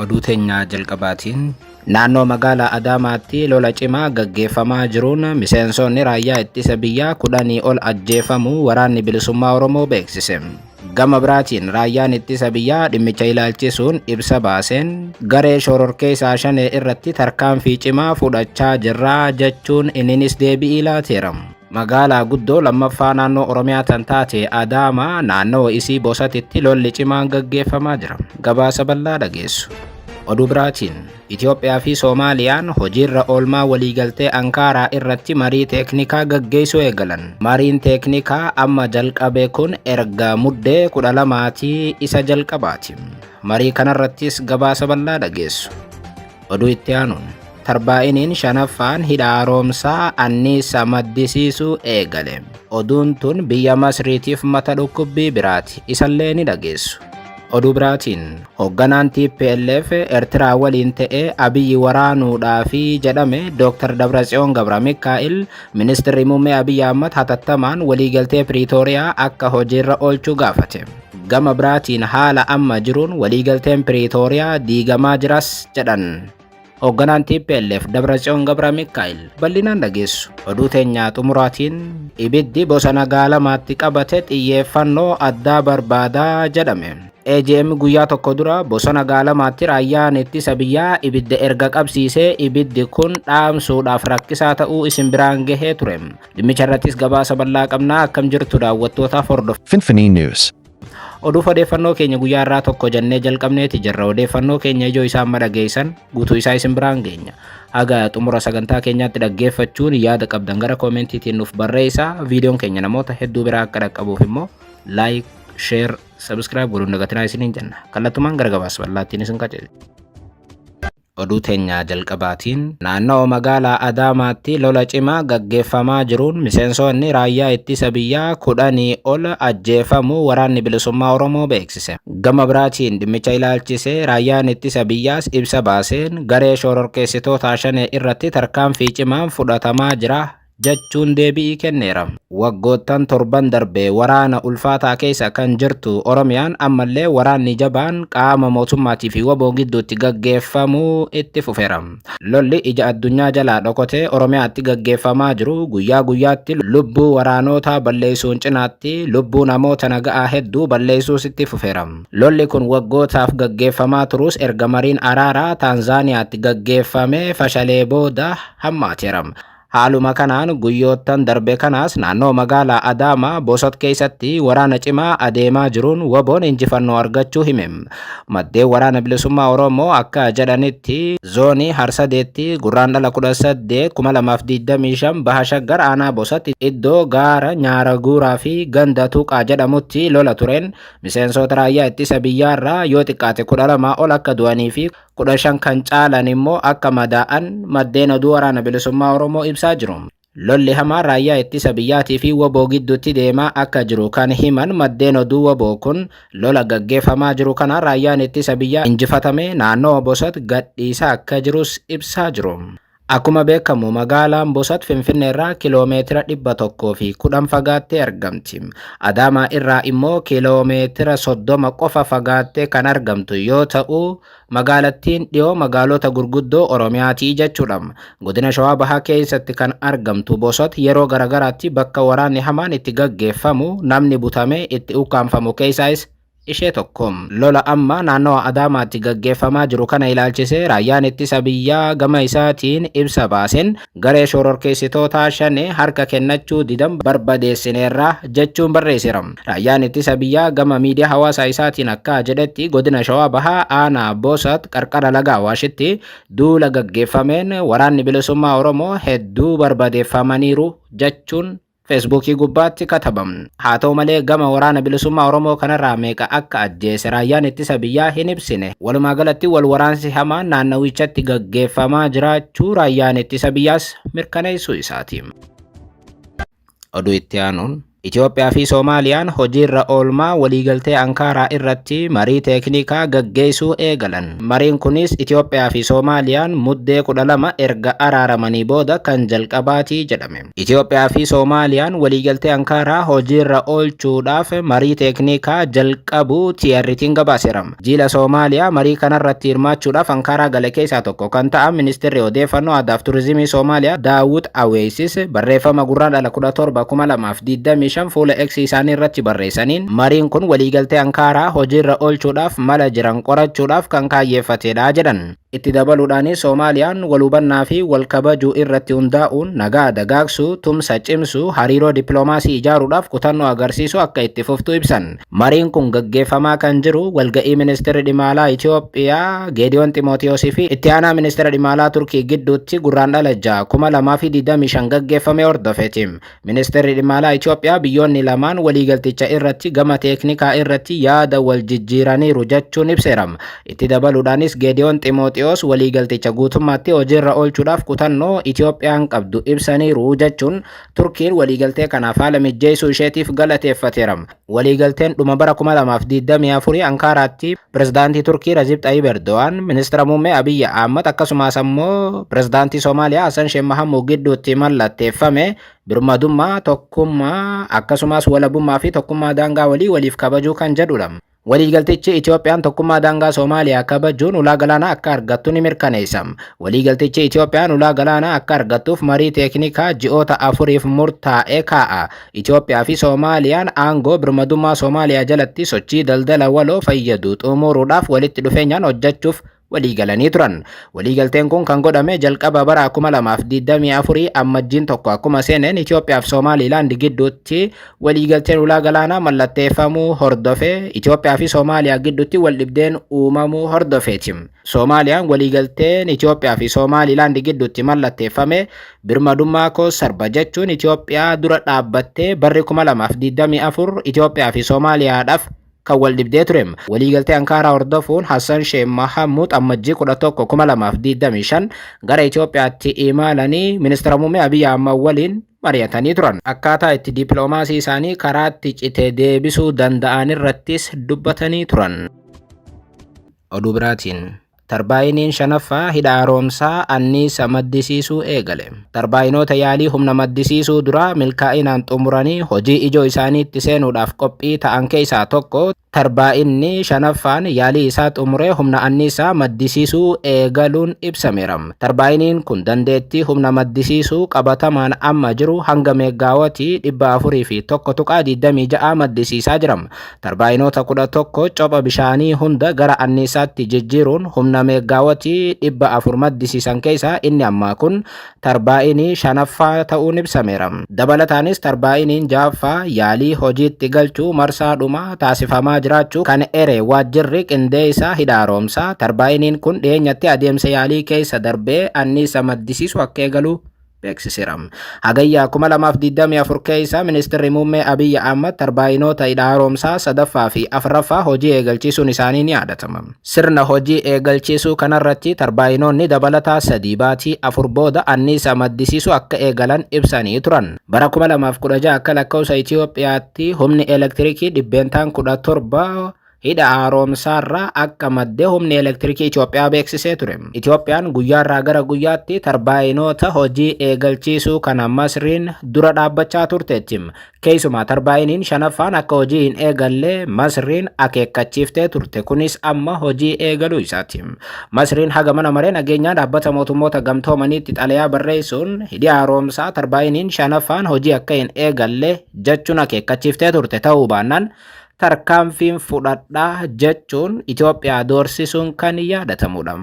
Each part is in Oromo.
Oduu teenyaa jalqabaatiin naannoo magaalaa Adaamaatti lola cimaa gaggeeffamaa jiruun miseensonni raayyaa ittisa biyyaa kudhanii ol ajjeefamuu waraanni bilisummaa Oromoo beeksise. Gama biraatiin raayyaan ittisa biyyaa dhimmicha ilaalchisuun ibsa baaseen garee shororkeessaa shanee irratti tarkaanfii cimaa fudhachaa jirra jechuun inninis deebi'ii laateera. Magaalaa guddoo lammaffaa naannoo Oromiyaa tan taate Adaamaa naannawa isii Bosatitti lolli cimaan gaggeeffamaa jira. Gabaasa bal'aa dhageessu. Oduu biraatiin, Itoophiyaa fi Soomaaliyaan hojiirra oolmaa waliigaltee Ankaaraa irratti marii teeknikaa gaggeessuu eegalan. Mariin teeknikaa amma jalqabe kun erga muddee 12ti isa jalqabaati. Marii kanarrattis gabaasa bal'aa dhageessu. Oduu itti aanuun tarbaa'iniin shanaffaan hidha haaromsaa anniisa maddisiisuu eegale. Oduun tun biyya Masriitiif mata dhukkubbii biraati. Isallee ni dhageessu. Oduu biraatiin hoogganaan TPLF Ertiraa waliin ta'ee Abiyyi waraanuudhaafi jedhame Dr. Dabratsiyoon Gabra Mikaa'il ministirri muummee Abiyyi Ahmad hatattamaan waliigaltee Piriitooriyaa akka hojiirra oolchuu gaafate. Gama biraatiin haala amma jiruun waliigalteen Piriitooriyaa diigamaa jiras jedhan. Hoogganaan TPLF Dabratsiyoon Gabra Mikaa'el bal'inaan dhageessu. Oduu teenyaa xumuraatiin ibiddi bosona gaalamaatti qabate xiyyeeffannoo addaa barbaada jedhame. AGM guyyaa tokko dura bosona gaalamaatti raayyaan ittisa biyyaa ibidda erga qabsiisee ibiddi kun dhaamsuudhaaf rakkisaa ta'uu isin biraan gahee ture. Dhimmicha irrattis gabaasa bal'aa qabna akkam jirtu daawwattootaaf hordof. Finfinnee News. Oduuf odeeffannoo keenya guyyaa irraa tokko jennee jalqabneeti jirra. Odeeffannoo keenya ijoo isaa amma dhageessan guutuu isaa isin biraan geenya. Haga xumura sagantaa keenyaatti dhaggeeffachuun yaada qabdan gara koomentiitiin nuuf barreessaa. Viidiyoon keenya namoota hedduu biraa akka dhaqqabuuf immoo laayik, sheer, sabiskiraayib godhuun dagatinaa isiniin jenna. Kallattumaan gara gabaasa bal'aattiin isin qajeelcha. Oduu teenya jalqabaatiin naannoo magaalaa Adaamaatti lola cimaa gaggeeffamaa jiruun miseensoonni raayyaa ittisa biyyaa kudhanii ol ajjeefamuu waraanni bilisummaa Oromoo beeksise. Gama biraatiin dhimmicha ilaalchisee raayyaan ittisa biyyaas ibsa baaseen garee shororkeessitootaa Shanee irratti tarkaanfii cimaan fudhatamaa jira jechuun deebi'ii kenneera. Waggoottan torban darbe waraana ulfaataa keessa kan jirtu Oromiyaan ammallee waraanni jabaan qaama mootummaatii fi wbo gidduutti gaggeeffamu itti fufeera. Lolli ija addunyaa jalaa dhokotee Oromiyaatti gaggeeffamaa jiru guyyaa guyyaatti lubbuu waraanootaa balleessuun cinaatti lubbuu namoota naga'aa hedduu balleessuus itti fufeera. Lolli kun waggootaaf gaggeeffamaa turus erga mariin araaraa Taanzaaniyaatti gaggeeffamee fashalee booda hammaateera. Haaluma kanaan guyyoottan darbe kanaas naannoo magaalaa Adaamaa Bosot keessatti waraana cimaa adeemaa jiruun waboon injifannoo argachuu hime. Maddeen waraana bilisummaa Oromoo akka jedhanitti zoonii Harsadeetti Gurraandhala 18, 2025 Baha Shaggar aanaa Bosatti iddoo gaara Nyaara Guuraa fi ganda Tuqaa jedhamutti lola tureen miseensoota raayyaa ittisa biyyaarraa yoo xiqqaate 12 ol akka du'anii fi kudha shan kan caalan immoo akka madaa'an maddeen oduu waraana bilisummaa Oromoo ibsaa jiru. Lolli hamaa raayyaa ittisa biyyaatii fi waboo gidduutti deemaa akka jiru kan himan maddeen oduu waboo kun lola gaggeeffamaa jiru kana raayyaan ittisa biyyaa injifatamee naannawa Bosat gadhiisaa akka jirus ibsaa jiru. Akkuma beekamu magaalaan Bosat Finfinnee irraa kiloomeetira 110 fagaattee argamti. Adaamaa irraa immoo kiloomeetira 30 qofa fagaattee kan argamtu yoo ta'u, magaalattiin dhiyoo magaalota gurguddoo Oromiyaati jechuudha. Godina Shawaa Bahaa keessatti kan argamtu Bosat yeroo garaagaraatti bakka waraanni hamaan itti gaggeeffamu namni butamee itti ukkaamfamu keessaayis ishee tokko. Lola amma naannawa Adaamaatti gaggeeffamaa jiru kana ilaalchisee Raayyaan Ittisa Biyyaa gama isaatiin ibsa baaseen, garee shororkeessitootaa Shanee harka kennachuu didan barbadeessineerra jechuun barreesseera. Raayyaan Ittisa Biyyaa gama miidiyaa hawaasaa isaatiin akka jedhetti, Godina Shawaa Bahaa Aanaa Boosat qarqara laga Awaashitti duula gaggeeffameen waraanni Bilisummaa Oromoo hedduu barbadeeffamaniiru jechuun Feesbuukii gubbaatti kataba. Haa ta'u malee gama Waraana Bilisummaa Oromoo kanarraa meeqa akka ajjeese Raayyaan Ittisa Biyyaa hin ibsine. Walumaa galatti wal waraansi hamaan naannawichatti gaggeeffamaa jiraachuu Raayyaan Ittisa Biyyaas mirkaneessuu isaati. Oduu itti aanuun Itoophiyaa fi Soomaaliyaan hojiirra oolmaa waliigaltee Ankaaraa irratti marii teeknikaa gaggeessuu eegalan. Mariin kunis Itoophiyaa fi Soomaaliyaan Muddee 12 erga araaramanii booda kan jalqabaati jedhame. Itoophiyaa fi Soomaaliyaan waliigaltee Ankaaraa hojiirra oolchuudhaaf marii teeknikaa jalqabuu TRT'n gabaaseera. Jiila Soomaaliyaa marii kanarratti hirmaachuudhaaf Ankaaraa gale keessaa tokko kan ta'an Ministirri Odeeffannoo Aadaaf Turizimii Soomaaliyaa Daawud Aweeysis barreeffama Gurraandhala 17, 2025 fuula X isaanii irratti barreessaniin mariin kun waliigaltee Ankaaraa hojiirra oolchuudhaaf mala jiran qorachuudhaaf kan kaayyeeffatedha jedhan. Itti dabaluudhaan Soomaaliyaan wal hubannaa fi wal kabajuu irratti hundaa'uun nagaa dagaagsuu, tumsa cimsuu, hariiroo dippiloomaasii ijaaruudhaaf kutannoo agarsiisuu akka itti fuftu ibsan. Mariin kun gaggeeffamaa kan jiru walga'ii Ministirri Dhimma Alaa Itiyoophiyaa Geediyoon Ximootiyoos fi Itti Aanaa Ministira Dhimma Alaa Turkii gidduutti Gurraandhala 6, 2025 gaggeeffame hordofeti. Ministeerri Dhimma Alaa Itoophiyaa biyyoonni lamaan waliigalticha irratti gama teeknikaa irratti yaada wal jijjiiraniiru jechuun ibseera. Itti dabaluudhaanis Geediyoon Ximooxiyoos waliigalticha guutummaatti hojiirra oolchuudhaaf kutannoo Itoophiyaan qabdu ibsaniiru jechuun Turkiin waliigaltee kanaaf haala mijjeessuu isheetiif galateeffateera. Waliigalteen dhuma bara 2024 Ankaaraatti pirezidaantii Turkii Rajib Xayib Erdo'aan, ministira muummee Abiyyi Ahmad akkasumas ammoo pirezidaantii Somaaliyaa Hassan Sheikh Mahamud gidduutti mallatteeffame birmadummaa, tokkummaa akkasumas walabummaa fi tokkummaa daangaa walii waliif kabajuu kan jedhudha. Waliigaltichi Itoophiyaan tokkummaa daangaa Somaaliyaa kabajuun ulaa galaanaa akka argattu ni mirkaneessa. Waliigaltichi Itoophiyaan ulaa galaanaa akka argattuuf marii teeknikaa ji'oota afuriif murtaa'e kaa'a. Itoophiyaa fi Soomaaliyaan aangoo birmadummaa Soomaaliyaa jalatti sochii daldala waloo fayyadu xumuruudhaaf walitti dhufeenyaan hojjechuuf waliigalanii turan. Waliigalteen kun kan godhame jalqaba bara 2024 ammajjiin tokko akkuma seeneen Itoophiyaa fi Soomaaliilaand gidduutti waliigalteen ulaa galaanaa mallatteeffamuu hordofee Itoophiyaa fi Soomaaliyaa gidduutti waldhibdeen uumamuu hordofeeti. Soomaaliyaan waliigalteen Itoophiyaa fi Soomaaliilaand gidduutti mallatteeffame Birmadummaa koo sarba jechuun Itoophiyaa dura dhaabbattee barri 2024 Itoophiyaa fi Somaaliyaadhaaf kan wal dhibdee ture. Waliigaltee Ankaaraa hordofuun Hassan Sheikh Mahamud Ammajjii 11, 2025 gara Itoophiyaatti imalanii Ministira Muummee Abiy Ahmad waliin mari'atanii turan. Akkaataa itti dippiloomaasii isaanii karaatti cite deebisuu danda'an irrattis dubbatanii turan. Oduu biraatiin Tarbaayiniin shanaffaa hidha haaromsaa anniisa maddisiisuu eegale. Tarbaayinoota yaalii humna maddisiisuu duraa milkaa'inaan xumuranii hojii ijoo isaaniitti seenuudhaaf qophii ta'an keessaa tokko tarbaayinni shanaffaan yaalii isaa xumuree humna anniisaa maddisiisuu eegaluun ibsameera. Tarbaayiniin kun dandeettii humna maddisiisuu qabatamaan amma jiru hanga meeggaawatii 401.26 maddisiisaa jira. tarbaayinoota 11 copha bishaanii hunda gara anniisaatti jijjiiruun humna meeggaawatii 400 maddisiisan keessaa inni ammaa kun tarbaayinii shanaffaa ta'uun ibsameera. Dabalataanis tarbaayiniin ja'affaa yaalii hojiitti galchuu marsaa dhumaa taasifamaa jiraachuu kan ere waajjirri qindeessaa hidha haroomsaa, tarbaayiniin kun dhiyeenyatti adeemsa yaalii keessa darbee anniisa maddisiisu akka eegalu beeksiseera. Hagayyaa 2024 keessa ministeerri muummee Abiyyi Ahmad tarbaayinoota hidha haaromsaa sadaffaa fi afraffaa hojii eegalchiisuun isaanii ni yaadatama. Sirna hojii eegalchiisuu kanarratti tarbaayinoonni dabalataa sadii baatii afur booda anniisa maddisiisuu akka eegalan ibsanii turan. Bara 2016 akka lakkoofsa Itiyoophiyaatti humni elektirikii dhibbeentaan 17 hidha haaromsaarraa akka madde humni elektirikii Itoophiyaa beeksisee ture. Itoophiyaan guyyaarraa gara guyyaatti tarbaayinoota hojii eegalchiisuu kana Masriin dura dhaabbachaa turteetti. Keessumaa tarbaayiniin shanaffaan akka hojii hin eegalle Masriin akeekkachiiftee turte. Kunis amma hojii eegaluu isaati. Masriin haga mana maree nageenyaa dhaabbata mootummoota gamtoomaniitti xalayaa barreessuun hidhi haaromsaa tarbaayiniin shanaffaan hojii akka hin eegalle jechuun akeekkachiiftee turte ta'uu baannaan tarkaanfiin fudhadha jechuun Itoophiyaa doorsisuun kan yaadatamudha.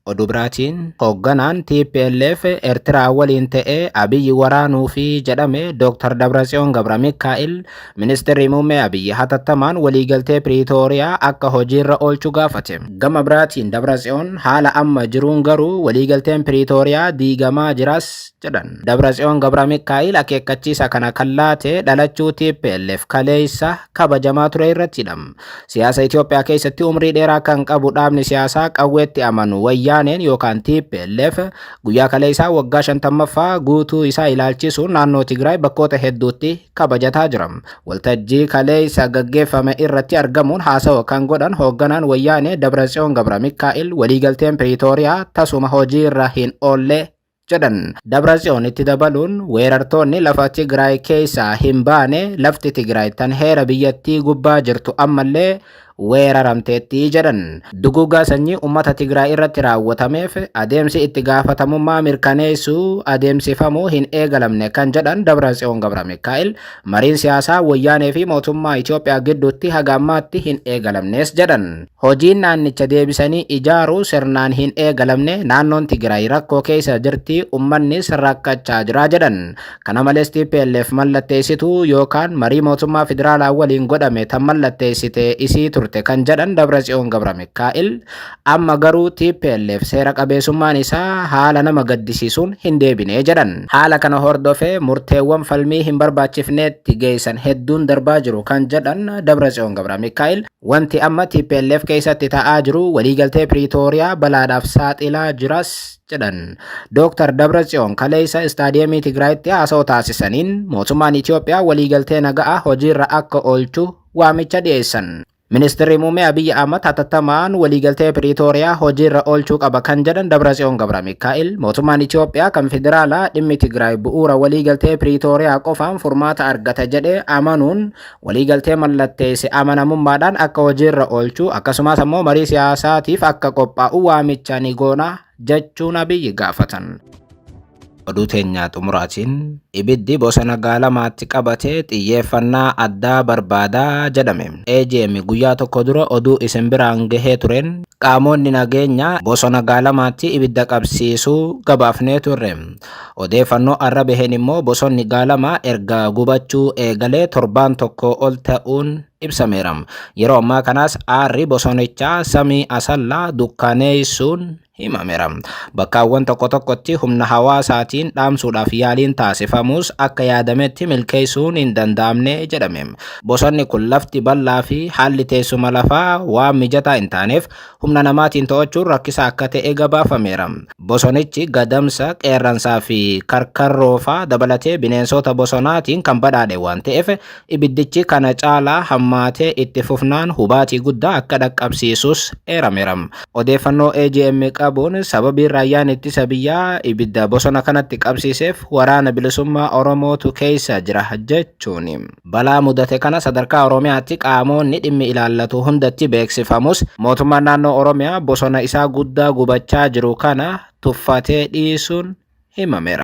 Oduu biraatiin hoogganaan TPLF Eertiraa waliin ta'ee Abiyyi waraanuu fi jedhame Dr. Dabratsiyoon Gabra Mikaa'il ministeerri muummee Abiyyi hatattamaan waliigaltee Piriitooriyaa akka hojiirra oolchu gaafate. Gama biraatiin Dabratsiyoon haala amma jiruun garuu waliigalteen Piriitooriyaa diigamaa jiras jedhan. Dabratsiyoon Gabramikaa'il akeekkachiisa kana kan laate dhalachuu TPLF kaleessa kabajamaa ture irrattidha. Siyaasa Itoophiyaa keessatti umrii dheeraa kan qabu dhaabni siyaasaa qawweetti amanu Wayyaaneen yookaan TPLF guyyaa kaleessaa waggaa 50ffaa guutuu isaa ilaalchisuun naannoo Tigraay bakkoota hedduutti kabajataa jira. Waltajjii kaleessa gaggeeffame irratti argamuun haasawa kan godhan hoogganaan Wayyaanee Dabratsiyoon Gabramikaa'il waliigalteen Piriitooriyaa tasuma hojiirra hin oolle jedhan. Dabratsiyoon itti dabaluun weerartoonni lafa Tigraay keessaa hin baane lafti Tigraay tan heera biyyattii gubbaa jirtu ammallee weeraramteetti jedhan. Duguuggaa sanyii uummata Tigraay irratti raawwatameef adeemsi itti gaafatamummaa mirkaneessuu adeemsifamuu hin eegalamne kan jedhan Dabratsiyoon Gabramikaa'el Mariin siyaasaa Wayyaanee fi mootummaa Itoophiyaa gidduutti haga ammaatti hin eegalamnes jedhan. Hojiin naannicha deebisanii ijaaruu sirnaan hin eegalamne, naannoon Tigiraay rakkoo keessa jirti, ummannis rakkachaa jira jedhan. Kana malees tplf mallatteessituu yookaan marii mootummaa federaalaa waliin godhame tan mallatteessite isii turte kan jedhan Dabratsiyoon Gabramikaa'el, Amma garuu tplf seera qabeesummaan isaa haala nama gaddisiisuun hin deebine jedhan. Haala kana hordofee murteewwan falmii hin barbaachifneetti geessan hedduun darbaa jiru kan jedhan Dabratsiyoon Gabramikaa'il, wanti amma tplf keessatti ta'aa jiru waliigaltee Piriitooriyaa balaadhaaf saaxilaa jiras jedhan. Dooktar Dabratsiyoon kaleessa Istaadiyeemii Tigraayitti haasawa taasisaniin mootummaan Itoophiyaa waliigaltee naga'aa hojiirra akka oolchu waamicha dhiyeessan. Ministirri Muummee Abiyyi Ahmad hatattamaan waliigaltee Piriitooriyaa hojiirra oolchuu qaba kan jedhan Dabratsiyoon Gabramikaa'el, mootummaan Itoophiyaa kan federaalaa dhimmi Tigraay bu'uura waliigaltee Piriitooriyaa qofaan furmaata argata jedhee amanuun waliigaltee mallatteesse amanamummaadhaan akka hojiirra oolchu akkasumas ammoo marii siyaasaatiif akka qophaa'u waamicha ni goona jechuun Abiyyi gaafatan. Oduu teenyaa xumuraatiin ibiddi bosona gaalamaatti qabate xiyyeeffannaa addaa barbaada jedhame. AGM guyyaa tokko dura oduu isin biraan gahee tureen qaamoonni nageenyaa bosona gaalamaatti ibidda qabsiisuu gabaafnee turre. Odeeffannoo har'a baheen immoo bosonni gaalamaa erga gubachuu eegalee torbaan tokko ol ta'uun ibsameera. Yeroo ammaa kanaas aarri bosonichaa samii asallaa dukkaaneessuun himameera. Bakkaawwan tokko tokkotti humna hawaasaatiin dhaamsuudhaaf yaaliin taasifamus akka yaadametti milkeessuun hin danda'amne jedhame. Bosonni kun lafti bal'aa fi haalli teessuma lafaa waan mijataa hin taaneef humna namaatiin to'achuun rakkisaa akka ta'e gabaafameera. Bosonichi gadamsa, qeerransaa fi karkarroofaa dabalatee bineensota bosonaatiin kan badhaadhe waan ta'eef Ibiddichi kana caalaa hammaatee itti fufnaan hubaatii guddaa akka dhaqqabsiisus eerameera. Odeeffannoo AGM qabuun sababiin Raayyaan Ittisa Biyyaa ibidda bosona kanatti qabsiiseef Waraana Bilisummaa Oromootu keessa jira jechuun, balaa mudate kana sadarkaa Oromiyaatti qaamoonni dhimmi ilaallatu hundatti beeksifamus mootummaan naannoo Oromiyaa bosona isaa guddaa gubachaa jiru kana tuffatee dhiisuun himameera.